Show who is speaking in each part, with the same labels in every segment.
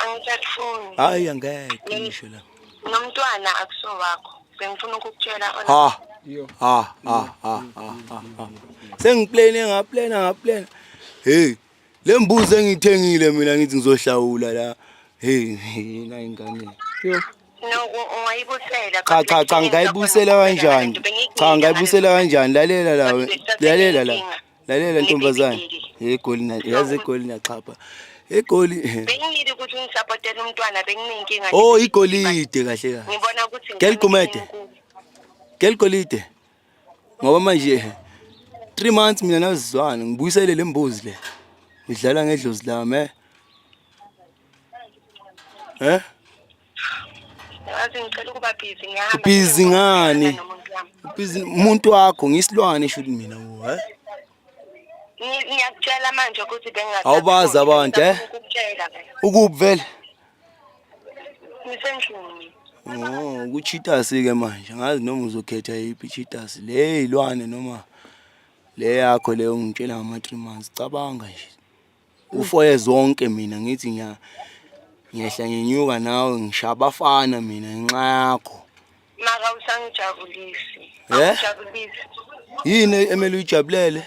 Speaker 1: angisakufuni hayi angeke
Speaker 2: ngisho la nomntwana akuso wakho bengifuna
Speaker 1: ukukutshela ha ha ha ha
Speaker 2: ha sengiplane ngaplana ngaplana hey le mbuzi engithengile mina ngithi ngizohlawula la hey yena ingane yo
Speaker 1: cha cha cha
Speaker 2: ngayibusela kanjani cha ngayibusela kanjani lalela la lalela la lalela ntombazane egoli yazi egoli naxhapha egoli bengingili ukuthi
Speaker 1: ngisapotela umntwana benginenkinga oh igolide
Speaker 2: kahle kahle ngibona ukuthi
Speaker 1: ngeligumede
Speaker 2: ngeligolide ngoba manje 3 months mina nazizwana ngibuyisele lembuzi le ngidlala ngedlozi lami eh eh
Speaker 1: Ngazi ngicela ukuba busy ngihamba. Busy ngani?
Speaker 2: Busy umuntu wakho ngisilwane shuthi mina wo, eh? Ngiyakutshela manje ukuthi
Speaker 1: bengathi Awubazi abantu, eh?
Speaker 2: Ukukutshela ke. Ukuphi vele?
Speaker 1: Ngisendlini. Oh,
Speaker 2: kuchitasi ke manje. Ngazi noma uzokhetha yiphi chitasi. Le ilwane noma le yakho le ungitshela ngama 3 months. Cabanga nje. ufoye zonke mina ngithi ngiya ngiyehla ngenyuka nawe ngishaya abafana mina ngenxa yakho maka
Speaker 1: usangijabulisi Eh? awujabulisi yini
Speaker 2: emele uyijabulele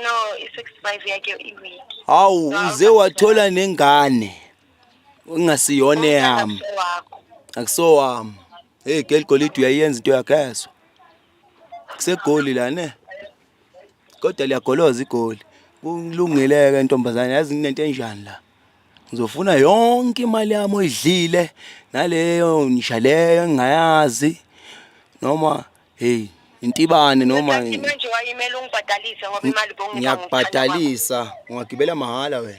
Speaker 1: no i-six five yakhe iwiki hawu uze
Speaker 2: wathola nengane engasiyona eyami wakho akusowami heyi geligolide uyayenza into yakho ezwa kusegoli la ne kodwa liyagoloza igoli kulungileke ntombazane yazi nginento enjani la ngizofuna yonke imali yami oyidlile naleyo nisha leyo engingayazi noma hey intibane noma
Speaker 1: ngiyakubhadalisa ngiyakubhadalisa ungagibela
Speaker 2: mahhala
Speaker 1: wena